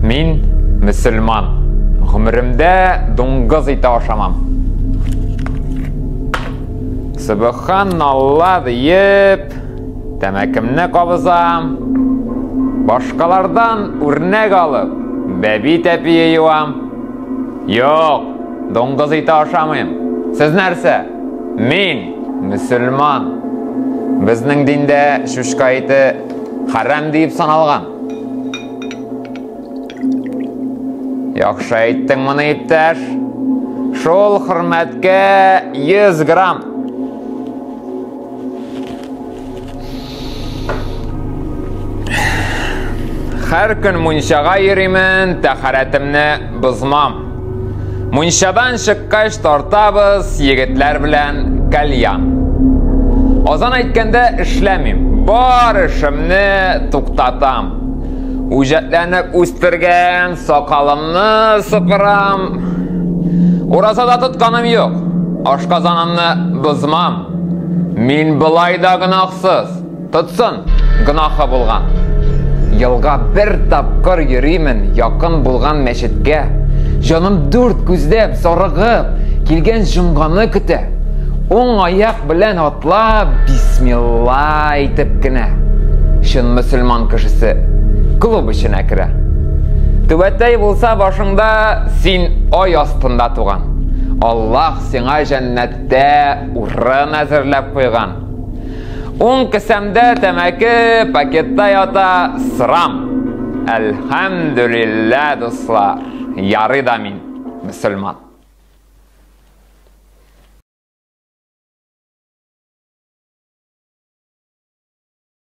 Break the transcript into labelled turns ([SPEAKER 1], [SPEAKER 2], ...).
[SPEAKER 1] Мин мөселман. Гомеремдә дуңгыз ите ашамам. Субханалла диеп, Тәмәкемне кабызам. Башкалардан үрнәк алып, бәби тәпие юам. Юк, доңгыз ите ашамыйм. Сез нәрсә? Мин мөселман. Безнең диндә шүшкә ите хәрәм диеп саналган. Яхшы әйттең моны, иптәш. Шул хөрмәткә 100 грамм. Хәр көн мунчага йөримен, тәхәрәтемне бозмам. Мунчадан чыккач тартабыз егетләр белән кальян. Азан әйткәндә эшләмим. Бар эшемне туктатам. Үҗәтләнеп үстергән сакалымны сыпырам. Уразада тотканым юк. Ашказанымны бозмам. Мин былай да гынахсыз. Тотсын, гынахы булган. Елга бер тапкыр йөримен якын булган мәчеткә. Җаным дүрт күздәп, сарыгып, килгән җомганы көтә. Уң аяк белән атлап, бисмилла әйтеп кенә. Чын мөселман кешесе клуб эченә керә. Түбәтәй булса башыңда, син ай астында туган. Аллаһ сиңа җәннәт дә урын әзерләп куйган. Уң кесәмдә тәмәке, пакетта ята срам. Әлхәмдүлиллә, дуслар, ярый да мин мөселман.